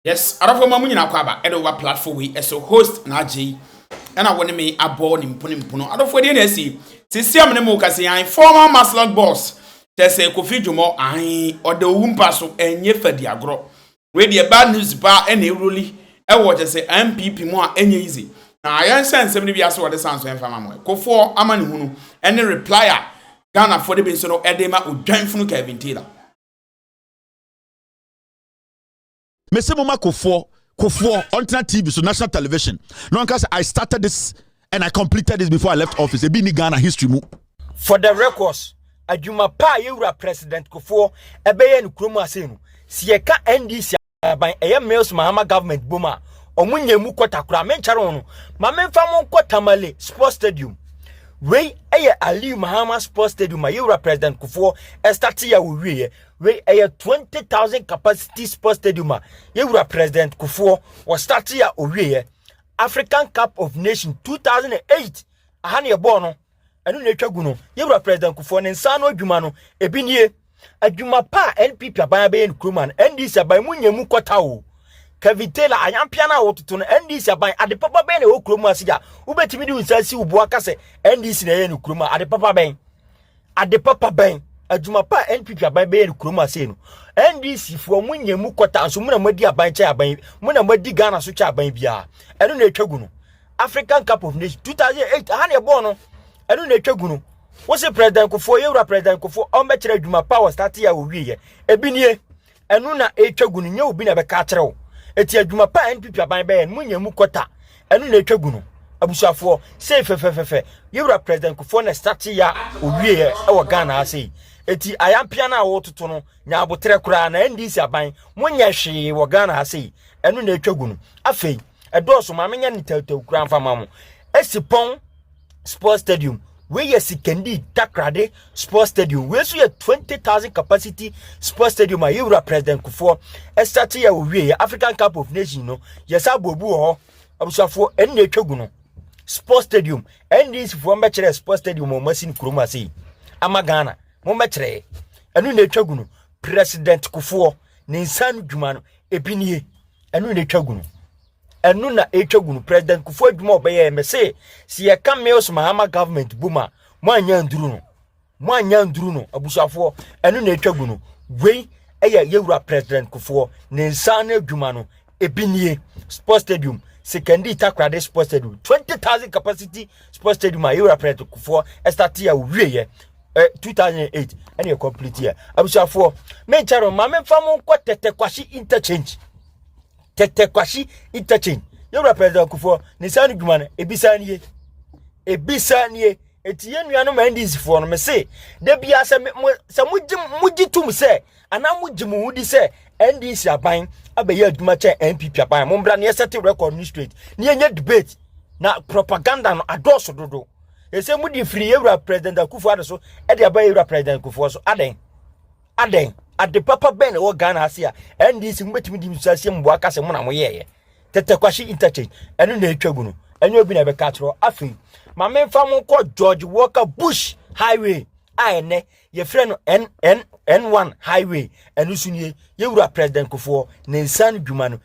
Yes adɔfoɔ ma mo nyinaa kɔ aba ɛde wa platform wei ɛso host na agyei ɛna wɔne me abɔ ne mpono mpono adɔfoɔ deɛ na ɛsi sisi amene mo kasi an former maslot boss kyɛ sɛ kofi dwomɔ an ɔda owu mpa so ɛnyɛ fadi agorɔ wei deɛ bad news paa ɛna ɛwuroli ɛwɔ kyɛ sɛ MPP mu a ɛnyɛ easy na yɛnhyɛ nsɛm no bi ase wɔde san so ɛmfa ma mo ɛkofoɔ ama ne hunu ɛne reply a Ghanafoɔ de bi nso no ɛde ma odwanfunu Kevin Taylor. mese moma kofoɔ kofoɔ ɔntena tv so national television na ɔnka sɛ i started this and i completed this before i left office ebi ni ghana history mu for the records adwuma pa a yɛwura president kofoɔ ɛbɛyɛ no kurom ase no si yɛka ndc aban ɛyɛ mills mahama government bom a ɔmo nyɛ mu kɔta koraa menkyɛre ho no ma memfa mo nkɔ tamale sports stadium wei ɛyɛ aliu mahama sports stadium a yɛwura president kofoɔ ɛstate a wɔwieɛ wei ɛyɛ twenty thousand capacity sports stadium a yɛwura president kofoɔ wɔ start a owieɛ african cup of nation two thousand and eight aha ne ɛbɔɔ no ɛno na atwa gu no yɛwura president kofoɔ ne nsa no adwuma no ebi nie adwuma pa a npp aban abɛyɛ no kurom ano ndc aban mu nyɛ mu kɔta o kevin taylor ayampea no a wɔtoto no ndc aban ade papa bɛn na ɛwɔ kurom ase a wobɛtumi de wo nsa si wo boa ka sɛ ndc na ɛyɛ no kurom a ade papa bɛn Ade papa bɛn, adwuma pa a NPP aban bɛyɛ no kurom ha sei no, NDC foɔ mo nyɛ mu kɔta nso mo na mo adi aban kyɛ aban, mo na mo adi Ghana so kyɛ aban biara. Ɛno na ɛtwa gu no. African Cup of Nations 2008 ha na ɛbɔɔ no. Ɛno na ɛtwa gu no. Wose President Kufuor, yɛwura President Kufuor, ɔmbɛkyerɛ adwuma pa wɔ start yɛ a wɔwieɛ. Ebi nie. ɛno na ɛtwa gu no nyɛ obi na ɛbɛka akyerɛ wo ɛti adwuma pa a npp aban bɛyɛ no monya mu kɔta ɛno na ɛtwa gu no abusuafoɔ sei fɛfɛfɛfɛ yɛwura president kufoɔ na state ya owieɛ ɛwɔ ghana ha sei ɛti ayampea no a wɔtoto no nya aboterɛ koraa na ndc aban monyɛ hwee wɔ ghana ha sei ɛno na ɛtwa gu no afei ɛdɔɔso ma menyɛ ne tawtaw koraa mfa ma mo ɛsi pɔn sports stadium wei yɛ sikandi takrade sports stadium wei nso yɛ twenty thousand capacity sports stadium a yɛwura president kufoɔ ɛsate yɛ owie yɛ african cup of nation no yɛsa aboabu wɔ hɔ abusuafoɔ ɛne na ɛtwa gu no sports stadium ndc foɔ mbɛkyerɛ sports stadium wɔn asi no kurom ase yi ama ghana mo mbɛkyerɛ ɛno na ɛtwa gu no president kufoɔ ne nsa no dwuma no ebi nie ɛno na ɛtwa gu no ɛno na ɛtwa gu no president kufu adwuma ɔbɛyɛ mɛ se si yɛka mills mahama government bu ma mo anya nduru no mo anya nduru no abusuafoɔ ɛno na ɛtwa gu no wei ɛyɛ yɛwura president kufuɔ ne nsa no adwuma no ebi nie sports stadium sekandi takorade sports stadium 20000 capacity sports stadium a yɛwura president kufuɔ ɛstate a ɔwieɛ 2008 ɛne yɛ complete yɛ abusuafoɔ menkyɛ no ma memfa mo nkɔ tɛtɛ kwahye interchange tɛtɛ kwahye interchange yɛwura president akufoɔ ne saa no dwuma no ebisa nie ebisa nie eti yɛn nuanom ndc foɔ no me se da biara sɛ mo sɛ mo gye mo gye tum sɛ anaa mo gye mo ho di sɛ ndc aban abɛyɛ adwuma kyɛn npp aban mo mbra ne ɛsɛte record ne straight ne yɛnyɛ debate na propaganda no adɔɔso dodo ɛsɛ mo di firi yɛwura president akufoɔ ado so ɛde aba yɛwura president akufoɔ so adɛn Adɛn? Ade papa bɛn na ɛwɔ Ghana ase a NDC mo betumi di nsuaseɛ mu boa ka sɛ mo na mo yɛɛyɛ? Tɛtɛkwahye interchange, ɛno na ɛtwa gu no. Ɛnyɛ obi na ɛbɛka atorɔ. Afei, ma memfa mo nkɔ George Walker Bush Highway a ɛnɛ yɛfrɛ no NN N1 Highway. Ɛno so nie, yɛwura President Kufuor ne nsan dwuma no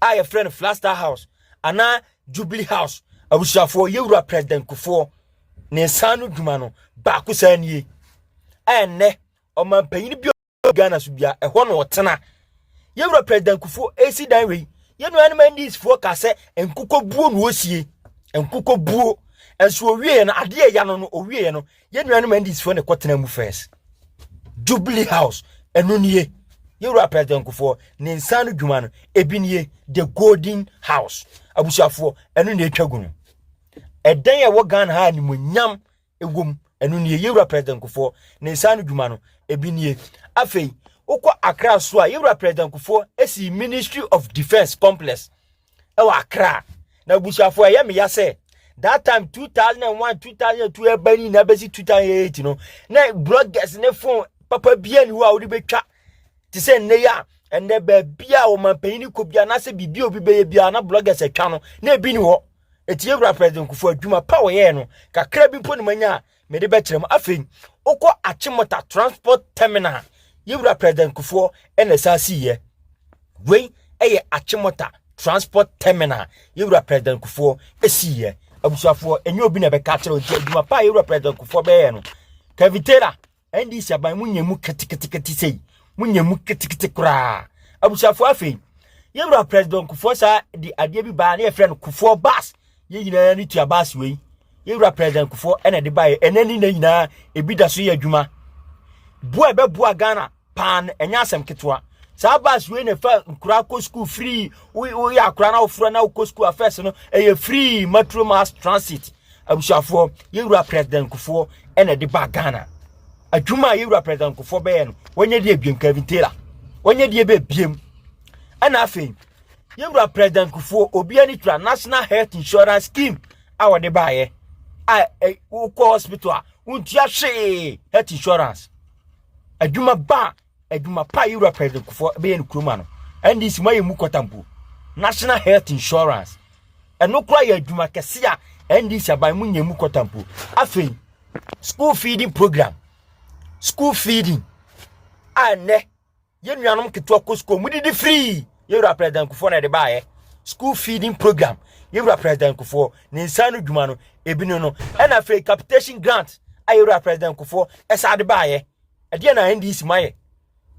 a yɛfrɛ no flaster house anaa jubilee house abusuafoɔ yɛwura president kufoɔ ne nsa no dwuma no baako saa nie ɛnnɛ ɔmanpanyin bi a ghana so bia ɛhɔ na ɔtena yɛwura president kufoɔ ɛsi dan wei yɛnuanom andisfoɔ ka sɛ nkokɔbuo na ɔsie nkokɔbuo nso ɔwieɛ no adeɛ ɛya no no ɔwieɛ no yɛn nuanom ndisfoɔ na ɛkɔtena mu first jubilee house ɛno nie yɛwura president nkofoɔ ne nsa no dwuma no ebi nie the golden house abusuafoɔ ɛno na ɛtwa gu no ɛdan a ɛwɔ ghana ha animonyam ɛwom ɛno nie yɛwura president nkofoɔ ne nsa no dwuma no ebi nie afei wokɔ akra so a yɛwura president nkofoɔ ɛsi ministry of defence complex ɛwɔ akra na abusuafo ɛyɛ meya sɛ that time 2001 2002 ɛba ni na ɛbɛsi 2008 no na bloggers ne phone papa bia ni hɔ a wode bɛtwa te sɛ nnɛ yi a ɛnɛ baabi a ɔmanpanyin ne kɔ bia anaasɛ biribi a obi bɛyɛ bia na bloggers atwa no na ebi ni hɔ ɛti yɛwura president kufo adwuma pa wɔyɛɛ no kakra bi mpo ne manya a mede bɛkyerɛ mu afei wokɔ akyemota transport terminal yɛwura president kufoɔ ɛna ɛsa siiɛ wei ɛyɛ akyemota transport terminal yɛwura president kufoɔ ɛsiiɛ abusuafoɔ ɛnyɛ obi na ɛbɛka akyerɛ nti adwuma pa a yɛwura president kufoɔ bɛyɛ no kavitera ndc aban mu nyɛ mu ketekete sei mu nyɛ mu ketekete koraa abusuafoɔ afei yɛwura president kufoɔ saa de adeɛ bi baa ne yɛfrɛ no kufoɔ bas Yɛn nyinaa ne tua baase wei. Yɛn wura President Kufuor ɛna ɛde baeɛ. Ɛnɛ ne nna nyinaa ebi da so yɛ adwuma. Boa ɛbɛboa Ghana paa no ɛnyɛ asɛm ketewa. Saa baase wei na ɛfa nkoraa kɔ sukuu free. Woyɛ akoraa na wofura na wokɔ sukuu afɛs no ɛyɛ free Metro Mass Transit. Abusuafoɔ, yɛn wura President Kufuor ɛna ɛde baa Ghana. Adwuma a yɛn wura President Kufuor bɛyɛ no, wɔnyɛ deɛ ebiem Kevin Taylor. Wɔnyɛ deɛ bɛbiem. Ɛna afei yɛn wura president kufuo obi ani tura national health insurance scheme a wɔde baayɛ a wokɔ hospital a wontua hwee health insurance adwuma ba a adwuma pa yɛn wura president kufuo bɛyɛ no kuroma no ndc mu ayɛ mu kɔtampo national health insurance ɛno kora yɛ adwuma kɛse a ndc aban mu nyɛ mu kɔtampo afei school feeding program school feeding a nnɛ yɛn nuanom nketewa kɔ sukuu wɔdidi firii yɛwura president kufoɔ na ɛde baayɛ school feeding program yɛwura president kufoɔ ne nsa no dwuma no ebi no no ɛna afei capitation grant a yɛwura president kufoɔ ɛsa de baayɛ ɛdeɛ na ndc ma yɛ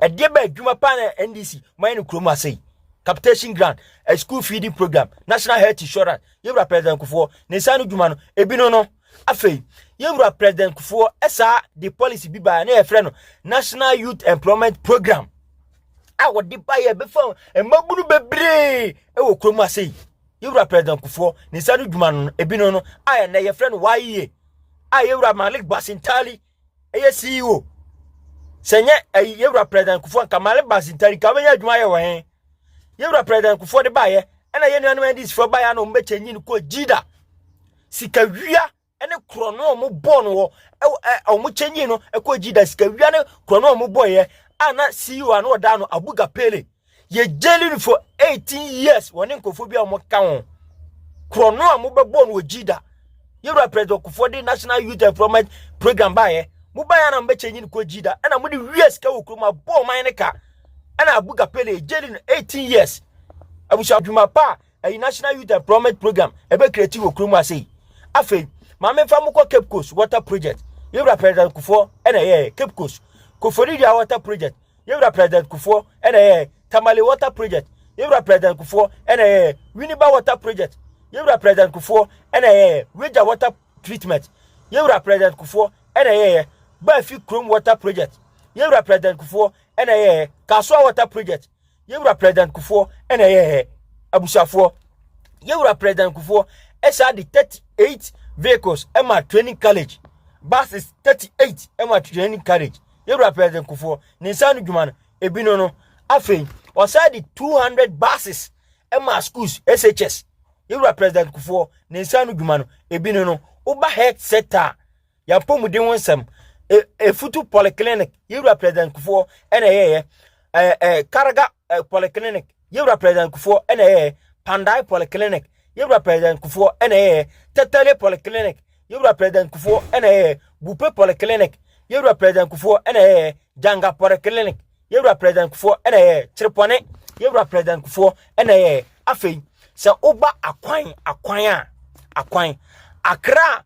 ɛdeɛ bɛ adwuma paa na ndc ma yɛ no kurom ase yi capitation grant a school feeding program national health insurance yɛwura president kufoɔ ne nsa no dwuma no ebi no no Afei, yɛn wura President Kufuor saa de policy bi baa na yɛfrɛ no National Youth Employment Program a wɔde ba yɛ bɛfa mmabunu bebree wɔ kurom ase yi. Yɛwura President Kufuor ne nsa no dwuma no ebinom no a ɛnɛ yɛfrɛ no YEA a yɛwura Malik Basintali ɛyɛ ceo sɛ nyɛ ɛyi yɛwura president kufu anka male basin tari ka bɛnya adwuma yɛ wɔ he yɛwura president kufu de baayɛ ɛna yɛ nuanom ndc fo baayɛ na wɔn bɛkyɛ nyi no kɔ gyida sika wia ɛne korɔ no wɔn bɔ no wɔ wɔn kyɛ nyi no ɛkɔ gyida sika wia ne korɔ no wɔn bɔ yɛ a na ceo ano ɔda no abuga pele yɛ gyeli no for 18 years wɔne nkurɔfoɔ bi a wɔka ho korɔ no a mobɛbɔɔ no wɔ gyida yɛwura president kufoɔ de national youth employment program baeɛ mobaeɛ na mobɛkyɛnyi no kɔ gyida ɛna mode wie sika wɔ kurom abɔɔ man no ka ɛna abuga pele yɛ gyeli no 18 years abusua adwuma pa a ɛyi national youth employment program ɛbɛkreti wɔ kurom ase yi afei maame fa mo kɔ cape coast water project yɛwura president kufoɔ ɛna ɛyɛ cape coast kofori dua water project Yɛwura President Kufuor na ɛyɛɛ Tamale Water Project. Yɛwura President Kufuor na ɛyɛɛ Winneba Water Project. Yɛwura President Kufuor na ɛyɛɛ Weija Water Treatment. Yɛwura President Kufuor na ɛyɛɛ Baafi Kurom Water Project. Yɛwura President Kufuor na ɛyɛɛ Kasoa Water Project. Yɛwura President Kufuor na ɛyɛɛ Abusuafoɔ. Yɛwura President Kufuor ɛsa de 38 vehicles ɛma Training College. Buses 38 ɛma Training College. yɛwura president kufoɔ ne nsa ano dwuma no ebi no no afei ɔsan de 200 buses ɛma schools shs yɛwura president kufoɔ ne nsa ano dwuma no ebi no no woba health sector a yɛapɔmuden ho nsɛm efutu e polyclinic yɛwura president kufoɔ ɛna ɛyɛyɛ ɛɛ karaga eh, polyclinic yɛwura president kufoɔ ɛna ɛyɛ pandai polyclinic yɛwura president kufoɔ ɛna ɛyɛ tɛtɛle polyclinic yɛwura president kufoɔ ɛna ɛyɛ bupe polyclinic yɛwura president kufoɔ ɛna ɛyɛ janga polyclinic yɛwura president kufoɔ ɛna ɛyɛ kyerepɔne yɛwura president kufoɔ ɛna ɛyɛ afei sɛ woba akwan akwan a akwan akra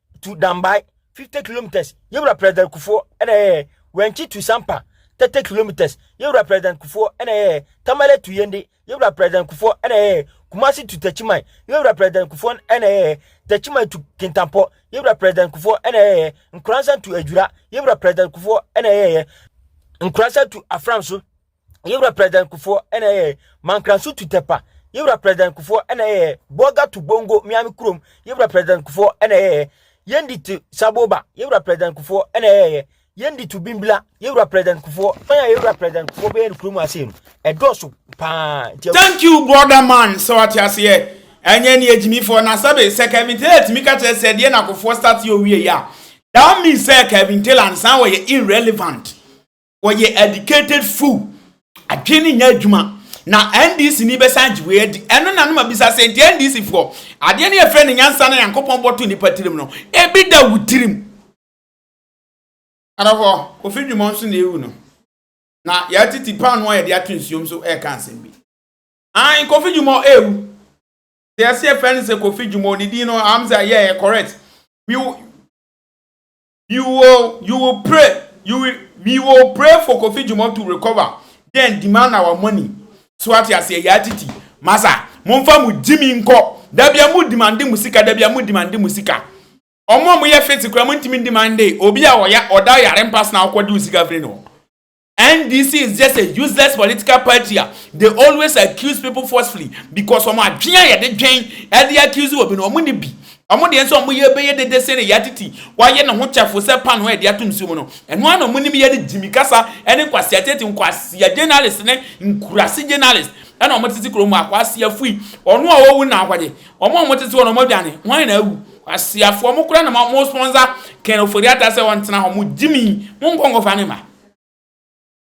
to Dambai, 50 kilometers, yɛwura President Kufuor ɛna ɛyɛ Wɛnkyi to Sampa, 30 kilometers, yɛwura President Kufuor ɛna ɛyɛ Tamale to Yende, yɛwura President Kufuor ɛna ɛyɛ Kumasi to Techiman, yɛwura President Kufuor ɛna ɛyɛ Techiman to Kintampo, yɛwura President Kufuor ɛna ɛyɛ Nkoransan to Adwira, yɛwura President Kufuor ɛna ɛyɛ Nkoransan to Afram so. yɛwura president kufoɔ ɛna ɛyɛ mankranso tutɛpa yɛwura president kufoɔ ɛna ɛyɛ bɔga to bongo miami kurom yɛwura president kufoɔ ɛna ɛyɛ yɛndi to saboba yɛwura president kufoɔ ɛna ɛyɛ yɛndi to bimbila yɛwura president kufoɔ fɛn a yɛwura president kufoɔ bɛyɛ no kurom ase no ɛdɔɔso paa thank you brother man sɛ wate aseɛ ɛnyɛ ne agyimifoɔ na sɛbe sɛ kevin taylor tumi ka kyerɛ sɛ deɛ nakofoɔ start yɛ owie yɛ a that means sɛ kevin taylor ansan wɔyɛ irrelevant wɔyɛ educated fool adwene no nyɛ adwuma na ndc ni bɛsan gye wei adi ɛno na no ma bisa sɛ nti ndc foɔ adeɛ no yɛfrɛ no nyansa na nyankopɔn bɔto nipa tirim no ebi da wo tirim adɔfo kofi dwuma nso na ewu no na yɛatete paano a yɛde ato nsuom so ɛreka asɛm bi an kofi dwuma ewu sɛ yɛsɛ yɛfrɛ no sɛ kofi dwuma ne din no am sɛ yɛ correct we You will you will pray you will we will pray for Kofi Jumon to recover then demand our money so ate aseɛ yaa titi masa momfa mo gyimi nkɔ dabia mo demande mo sika dabia mo demande mo sika ɔmo a moyɛ fete kora mo ntumi demande obi a ɔya ɔda yare mpa sena ɔkɔde wo sika firi no NDC is just a useless political party a they always accuse people forcefully because wɔn adwene a yɛde dwen ɛde accuse obi no wɔn ni bi. Wɔn deɛ nso wɔn yɛ bɛyɛ dede sen ne yatiti wayɛ ne ho kyɛfo sɛ panoo a yɛde ato nsuo mu no. Ɛno ara na wɔn nim yɛ ne Jimmy kasa ɛne Nkwasi Atete Nkwasia journalist ne Nkurase journalist ɛna wɔn tete kurom Akwasi Afui ɔno a ɔwu na ahɔgye wɔn a wɔn tete hɔ no wɔn adwane hwan na awu. Kwasiafoɔ mo koraa na mo mo sponsor Ken Ofori-Atta sɛ ɔntena hɔ, mo gyimii, monkɔ nkɔfa ne ma.